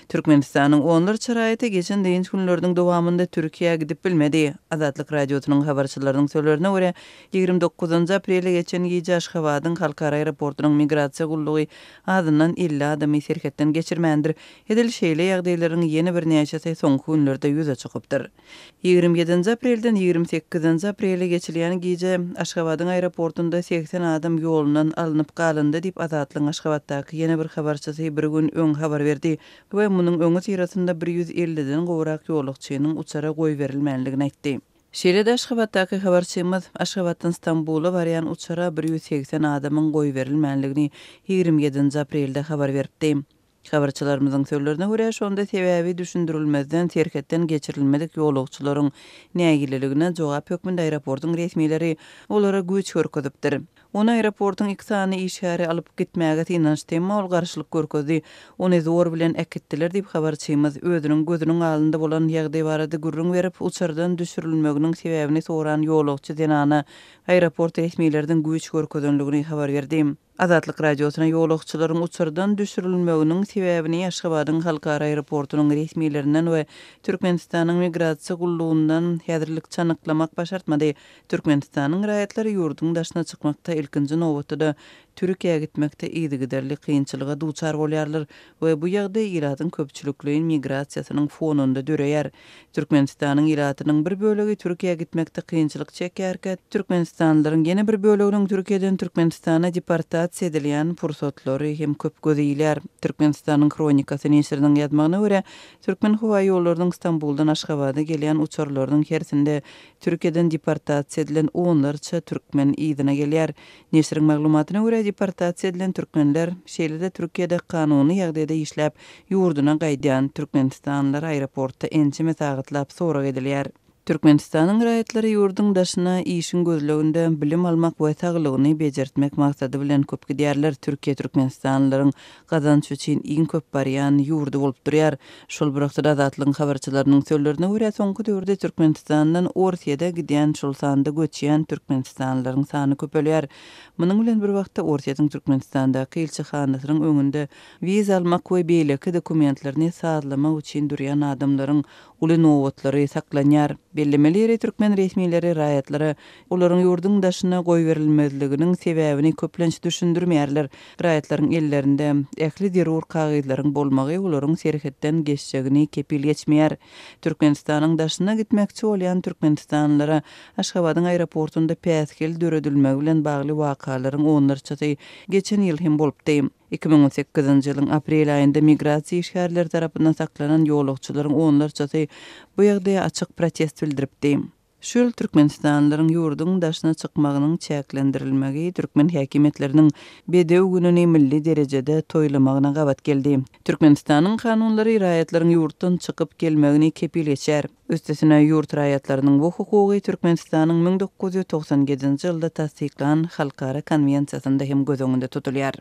Türkmenistanyň onlarça raýaty geçen dynç günleriniň dowamynda Türkiýä gidip bilmedi. Azatlyk Radiosynyň habarçylarynyň sözlerine görä, ýigrimi dokuzynjy aprelde geçen gije Aşgabadyň Halkara aeroportunyň migrasiýa gullugy azyndan elli adamy serhetden geçirmändir, edil şeýle ýagdaýlaryň ýene birnäçesi soňky günlerde ýüze çykypdyr. Ýigrimi ýedinji aprelden ýigrimi sekizinji aprele geçilýän gije Aşgabadyň aeroportunda segsen adam ýolundan alnyp galyndy diýip Azatlygyň Aşgabatdaky ýene bir habarçysy bir gün öň habar berdi we munuň öňüsyrasynda bir ýüz elliden gowrak ýolagçynyň uçara goýberilmänligini aýtdy. Şeýle-de Aşgabatdaky habarçymyz Aşgabatdan Stambula barýan uçara bir ýüz segsen adamyň goýberilmänligini ýigrimi ýedinji aprelde habar beripdi. Habarçylarymyzyň sözlerine görä, şonda sebäbi düşündirilmezden serhetden geçirilmedik ýolagçylaryň nägileligine jogap hökmünde aeroportyň resmileri olara güýç görkezipdir. Ony aeroportyň iki sany işgäri alyp gitmäge synanyşdy, emma ol garşylyk görkezdi, ony zor bilen äkitdiler diýip, habarçymyz özüniň gözüniň alynda bolan ýagdaý barada gürrüň berip, uçardan düşürilmeginiň sebäbini soran ýolagçy zenana aeroport resmileriniň güýç görkezenligini habar berdi. Azatlyk Radiosyna ýolagçylaryň uçardan düşürilmeginiň sebäbini Aşgabadyň halkara aeroportunyň resmilerinden we Türkmenistanyň Migrasiýa gullugyndan häzirlikçe anyklamak başartmady. Türkmenistanyň raýatlary ýurduň daşyna çykmakda, ilkinji nobatda-da, Türkiýä gitmekde yzygiderli kynçylyga duçar bolýarlar we bu ýagdaý ilatyň köpçülikleýin migrasiýasynyň fonunda döreýär. Türkmenistanyň ilatynyň bir bölegi Türkiýä gitmekde kynçylyk çekýärkä, türkmenistanlylaryň ýene bir böleginiň Türkiýeden Türkmenistana deportasiýa edilýän pursatlary hem köp göze ilýär. Türkmenistanyň Hronikasy neşiriniň ýazmagyna görä, Türkmenhowaýollarynyň Stambuldan Aşgabada gelýän uçarlarynyň hersinde Türkiýeden deportasiýa edilen onlarça türkmen yzyna gelýär. Neşiriň maglumatyna görä, deportasiýa edilen türkmenler, şeýle-de Türkiýede kanuny ýagdaýda işläp, ýurduna gaýdýan türkmenistanlylar aeroportda ençeme sagatlap sorag edilýär. Türkmenistanyň raýatlary ýurduň daşyna işiň gözleginde, bilim almak we saglygyny bejertmek maksady bilen köp gidýärler, Türkiýe türkmenistanlylaryň gazanç üçin iň köp barýan ýurdy bolup durýar. Şol bir wagtda Azatlygyň habarçylarynyň sözlerine görä, soňky döwürde Türkmenistandan Orsýete gidýän, şol sanda göçýän türkmenistanlylaryň sany köpelýär. Munuň bilen bir wagtda Orsýetiň Türkmenistandaky ilçihanasynyň öňünde wiza almak we beýleki dokumentlerini sazlamak üçin durýan adamlaryň uly nobatlary saklanýar. Bellemeli ýeri, türkmen resmileri raýatlara olaryň ýurduň daşyna goýberilmezliginiň sebäbini köplenç düşündirmeýärler. Raýatlaryň ellerinde ähli zerur kagyzlaryň bolmagy olaryň serhetden geçjegini kepil geçmeýär. Türkmenistanyň daşyna gitmekçi bolýan türkmenistanlylara Aşgabadyň aeroportunda päsgel döredilmegi bilen bagly wakalaryň onlarçasy geçen ýyl hem bolupdy. Iki müň on sekizinji ýylyň aprel aýynda migrasiýa işgärleri tarapyndan saklanan ýolagçylaryň onlarçasy bu ýagdaýa açyk protest bildiripdi. Şu ýyl türkmenistanlylaryň ýurduň daşyna çykmagynyň çäklendirilmegi türkmen häkimiýetleriniň Bedew gününi milli derejede toýlamagyna gabat geldi. Türkmenistanyň kanunlary raýatlaryň ýurtdan çykyp gelmegini kepil geçýär. Üstesine, ýurt raýatlarynyň bu hukugy Türkmenistanyň müň dokuz ýüz togsan ýedinji ýylda tassyklan Halkara konwensiýasynda hem göz öňünde tutulýar.